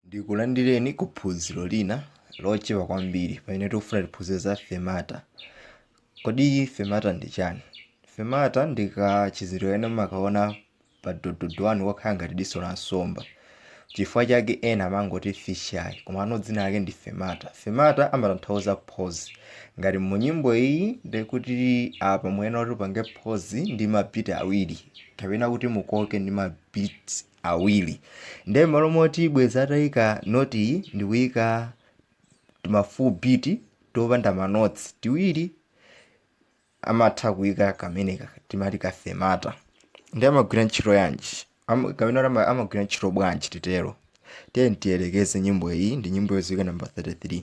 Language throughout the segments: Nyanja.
Ndikulandireni ku phunziro lina lochepa kwambiri pamene tikufuna tiphunzire za fermata. Kodi fermata ndi chani? Fermata ndi kachizindikiro kamene mumakaona pa do do do wanu kokhala ngati diso la nsomba. Chifukwa chake ena amangoti fisheye komano dzina lake ndi fermata. Fermata amatanthauza pause. Ngati mu nyimbo iyi ndiye kuti apa muyenera kuti mupange pause ndi ma beat awiri kapena kuti mukoke ndi ma beats awiri nde mmalo moti bwezi atayika note iyi ndikuyika tima full beat topanda ma notes tiwiri amatha kuyika kameneka timati ka fermata nde amagwira ntchito yanji kapena ama, amagwira ntchito bwanji titero tiye tiyelekeze nyimbo iyi ndi nyimbo yodziwika number 33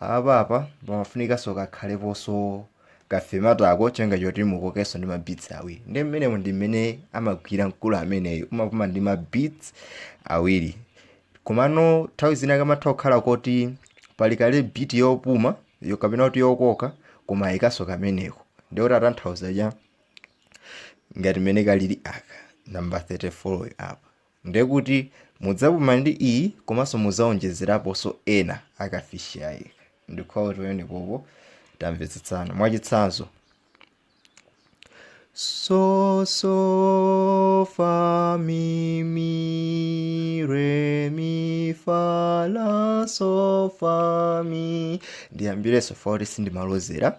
Apa apa pamafunikanso kakhaleponso ka fermata ako cholinga choti mukokenso ndi ma beats awiri ndi mmene ndi mmene amagwira mkulu ameneyo umapuma ndi ma beats awiri komano nthawi zina kamatha kukhala koti pali kale beat yopuma yo kapena kuti yokoka koma ayikanso kameneko ndiye kuti atanthauza cha ngati mmene kalili aka number 34 apa Ndekuti mudzapuma ndi iyi komanso mudzaonjezeraponso ena a ka fisheye ndikhulupirira kuti penepapo tamvetsetsana mwachitsanzo so so fa mi mi re mi fa la so fa mi ndiyambirenso fa kuti sindimalozera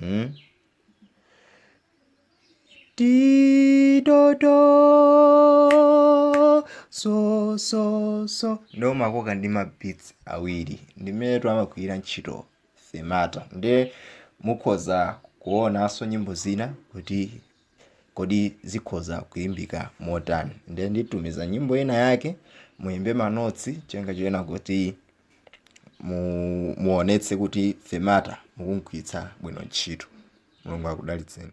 Hmm? Ti do do so so so ndiye umakoka ndi ma beats awiri ndi mmenetu amagwira ntchito fermata nde mukhoza kuonanso nyimbo zina kuti Kodi zikhoza kuimbika motani? Ndiye nditumiza nyimbo ina yake muimbe manotsi cholinga chonena kuti mu, muonetse kuti fermata mukumgwiritsa bwino ntchito. Mulungu akudalitseni.